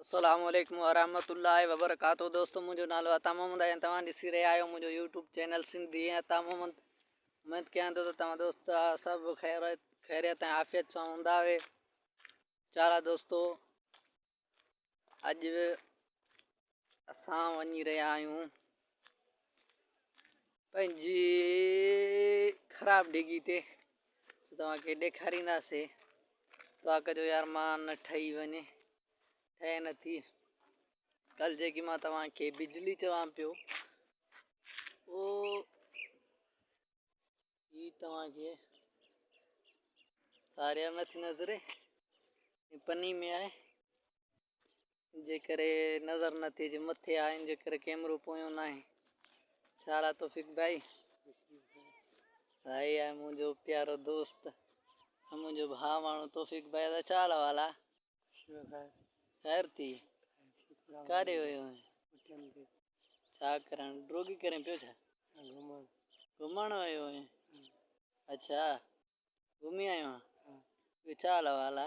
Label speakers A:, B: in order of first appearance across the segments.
A: السلام عليڪم ورحمة الله وبرڪاته دوستو منهنجو نالو عطا محمد آهي ۽ توهان ڏسي رهيا آهيو منهنجو يوٽيوب چينل سنڌي ۽ عطا محمد اميد ڪيان ٿو ته توهان دوست سڀ خير خيريت ۽ عافيت سان هوندا هي چارا دوستو اڄ اسان وڃي رهيا آهيون پنهنجي خراب ڊگهي تي توهان کي ڏيکارينداسي دعا ڪجو يار مان نه ٺهي وڃي ٺهي نه ٿي ڪل جيڪي مان توهان کي بجلي چوان پيو او هي توهان کي ساريا نٿي نظري پني ۾ آهي جيڪر نظر نه ٿئي جو مٿي آهن جيڪر ڪيمرو پويون ناهي سارا توفيق ڀائي هائي آهي منهنجو پيارو دوست منهنجو ڀاء ماڻهو توفيق ڀائي دا چال والا خير ٿي ڪاڏي ويو آهي ڇا ڪرڻ ڊروگي ڪرين پيو ڇا گھمڻ گھمڻ ويو آهي اچھا گھمي آيو آهي ڇا حال والا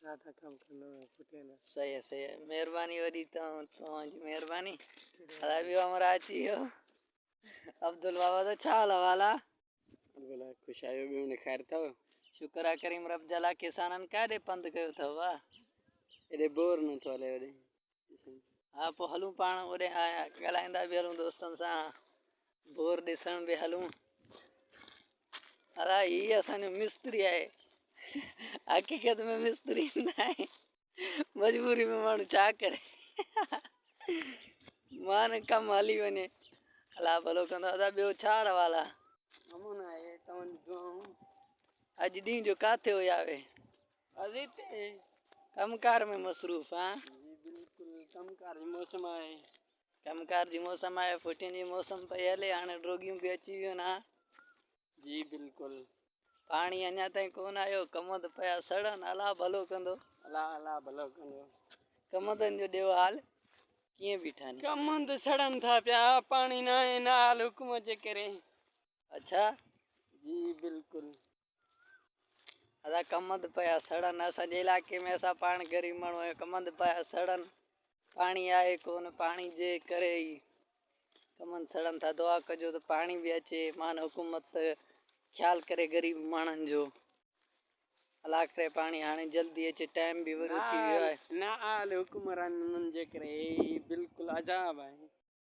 A: ڇا ٿا ڪم ڪندا آهيو پٽي نا. صحيح آ صحيح آ مھرباني وڏي توھان جي مھرباني ادا ٻيو ھمراھ اچي ويو عبدل بابا سان ڇا حال احوال آ. بلا خوش آيو ٻيو ھن خير ٿو. شڪر آ ڪريم رب جا لا ڪسانن ڪاڏي پنڌ ڪيو ٿئو وا. ايڏي بور نه ٿو ھلي وڏي. ها پوء هلون پاڻ اوڏي ها ڳالهائيندا به هلون دوستن سان بور ڏسڻ به هلون ادا هي اسان جو مستري آهي حقيقت ۾ مستري نه آهي مجبوري ۾ ماڻهو ڇا ڪري مان ڪم هلي وڃي الا ڀلو ڪندو ادا ٻيو ڇا روال آهي امون آهي تمن دعائون اڄ ڏينهن جو ڪاٿي هو ياوي ازين تي ڪم ڪار ۾ مصروف آهيان. جي بلڪل ڪم ڪار جي موسم آهي. ڪم ڪار جي موسم آهي ڦٽين جي موسم پئي هلي هاڻي ڊوگيون به اچي ويون ها. جي بلڪل. پاڻي اڃا تائين ڪون آيو ڪم ته پيا سڙن الله ڀلو ڪندو. الله الله ڀلو ڪندو. ڪمندن جو ڏيو حال ڪيئن بيٺا ني. ڪمند سڙن ٿا پيا پاڻي ناهي نال حڪم جي ڪري. اڇا. جي بلڪل. اسان ڪمند پيا سڙن اسان جي علائقي ۾ اسان پاڻ غريب ماڻهو آهيون ڪمند پيا سڙن پاڻي آهي ڪون پاڻي جي ڪري ئي ڪمند سڙن ٿا دعا ڪجو ته پاڻي به اچي مان حڪومت خيال ڪري غريب ماڻهن جو الله ڪري پاڻي هاڻي جلدي اچي ٽائيم به ورو ٿي ويو آهي نا آل حڪمرانن جي ڪري بالڪل عذاب آهي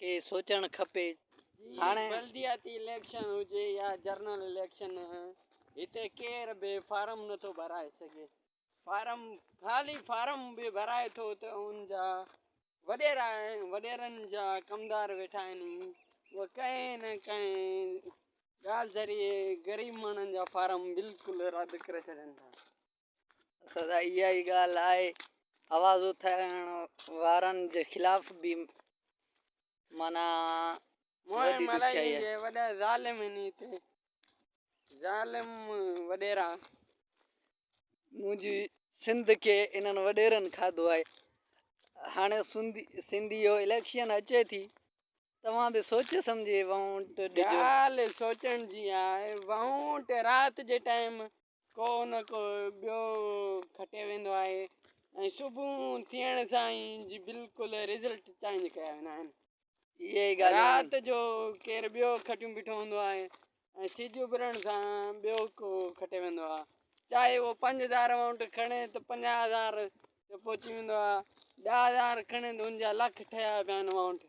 A: کي سوچڻ کپي هاڻي بلدياتي اليڪشن هجي يا جرنل اليڪشن هتي ڪير به فارم نٿو ڀرائي سگهي فارم خالي فارم به ڀرائي ٿو ته ان جا وڏيرا وڏيرن جا ڪمدار ويٺا آهن اهي ڪنهن نه ڪنهن ڳالهه ذريعي غريب ماڻهن جا فارم بلڪل رد ڪري ڇڏين ٿا سدا اها ئي ڳالهه آهي آواز اٿائڻ وارن جي خلاف به مانا مون ملائي جي وڏا ظالم ني تي ظالم وڏيرا منهنجي سنڌ کي انهن وڏيرن کاڌو آهي هاڻي سنڌي سنڌي جو اليڪشن اچي ٿي توهان به سوچي سمجهي ووٽ ڏيو ڳالهه سوچڻ جي آهي ووٽ رات جي ٽائيم ڪو نه ڪو ٻيو کٽيو ويندو آهي ۽ صبح ٿيڻ سان ئي جي بلڪل رزلٽ چينج ڪيا ويندا آهن اهي ئي ڳالهيون آهن. رات جو ڪير ٻيو کٽيون بيٺو هوندو آهي ۽ سج اڀرڻ سان ٻيو ڪو کٽي ويندو آهي چاهي اهو پنج هزار امائونٽ کڻي ته پنجاهه هزار تي پهچي ويندو آهي ڏهه هزار کڻي ته ان جا لک ٺهيا پيا آهن امائونٽ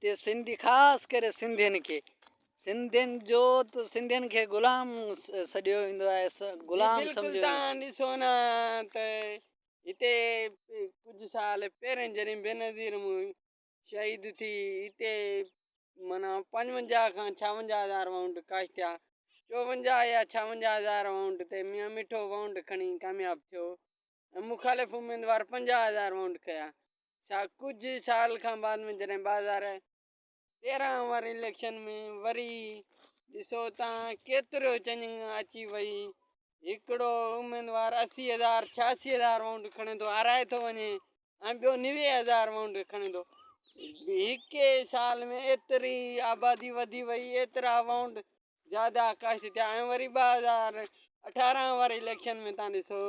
A: تي سنڌي خاص ڪري سنڌين کي سنڌين جو ته سنڌين کي غلام سڏيو ويندو آهي غلام سمجهيو بلڪل تان ڏسو
B: نه ته هتي ڪجهه سال پهرين جڏهن بينظير مون شهيد ٿي هتي مانا پنجونجاهه کان ڇاونجاهه هزار وائونڊ ڪاش ٿيا چوونجاهه يا ڇاونجاهه هزار وائونڊ تي ميان مٺو وائونڊ کڻي ڪامياب ٿيو ۽ مخالف اميدوار پنجاهه هزار وونٽ کيا ڇا ڪجهه سال کان بعد ۾ جڏهن ٻه هزار تيرهن اوور اليڪشن ۾ وري ڏسو ته ڪيتريو چنگ اچي وئي هڪڙو اميدوار اسي هزار ڇياسي هزار وونٽ کڻي ٿو هارائي ٿو وڃي ۽ ٻيو نوي هزار وونٽ کڻي ٿو هڪ سال ۾ ايتري آبادي وڌي وئي ايترا وونٽ زياده ڪاشت ٿيا ۽ وري ٻه هزار اٺارهن واري اليڪشن ۾ تان ڏسو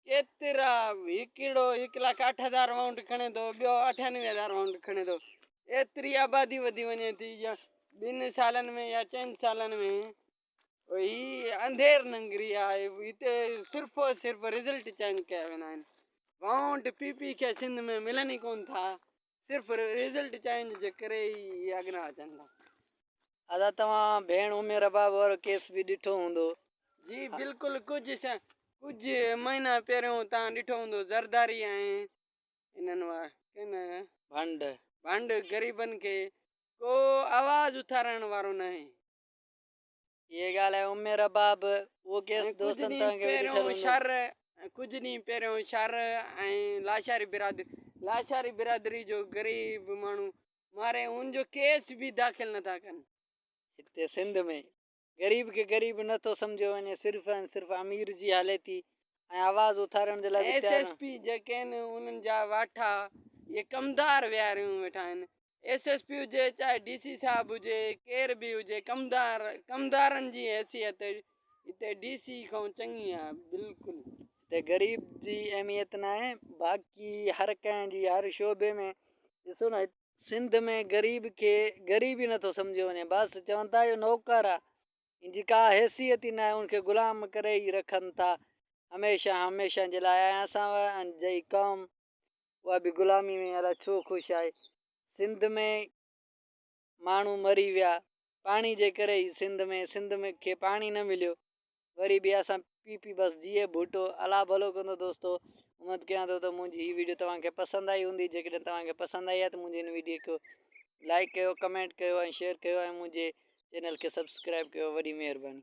B: ڪيترا هڪڙو هڪ لک اٺ هزار وائونٽ کڻي ٿو ٻيو اٺانوي هزار وائونٽ کڻي ٿو ايتري آبادي وڌي وڃي ٿي يا ٻن سالن ۾ يا چئن سالن ۾ هي اندھير ننگري آهي هتي صرف صرف رزلٽ چينج ڪيا ويندا آهن وائونٽ پي پي کي سنڌ ۾ ملن ئي ڪون ٿا صرف ريزلٽ چينج جي ڪري ئي اهي اڳنا اچن ٿا. ادا
A: توهان ڀيڻ امي رباب وارو ڪيس به ڏٺو هوندو. جي بلڪل
B: ڪجهه سان ڪجهه مهينا پهريون تان ڏٺو هوندو زرداري ۽ انهن وا ڪن ڀنڊ ڀنڊ غريبن کي ڪو آواز اٿارڻ وارو ناهي.
A: ڪجهه ڏينهن پهريون
B: شر ۽ لاشاري برادري لاشاري برادري جو غريب ماڻهو ماري ان جو ڪيس به داخل نٿا ڪن هتي سنڌ
A: ۾ غريب کي غريب نٿو سمجهيو وڃي صرف ۽ صرف امير جي هلي ٿي ۽ آواز اٿارڻ جي لاء ايس ايس پي جيڪي آهن
B: انهن جا واٺا اهي ڪمدار ويهاريون ويٺا آهن ايس ايس پي هجي چاهي ڊي سي صاحب هجي ڪير به هجي ڪمدار ڪمدارن جي حيثيت هتي ڊي سي کان چڱي آهي بلڪل هتي غريب
A: جي اهميت نه آهي باقي هر ڪنهن جي هر شعبي ۾ ڏسو نه سنڌ ۾ غريب کي غريب ئي نٿو سمجهيو وڃي بس چون ٿا اهو نوڪر آهي ان جي ڪا حيثيت ئي ناهي ان کي غلام ڪري ئي رکن ٿا هميشه هميشه جي لاء ۽ اسان جي قوم اها به غلامي ۾ الائي ڇو خوش آهي سنڌ ۾ ماڻهو مري ويا پاڻي جي ڪري ئي سنڌ ۾ سنڌ ۾ کي پاڻي نه مليو وري به اسان پي پي بس جيئي ڀٽو الله ڀلو ڪندو دوستو اميد ڪيان ٿو ته منهنجي هي ويڊيو توهان کي پسند آئي هوندي جيڪڏهن توهان کي پسند آئي آهي ته منهنجي هن ويڊيو کي لائڪ ڪيو ڪمينٽ ڪيو ۽ شيئر ڪيو ۽ منهنجي چينل کي سبسڪرائب ڪيو وڏي مهرباني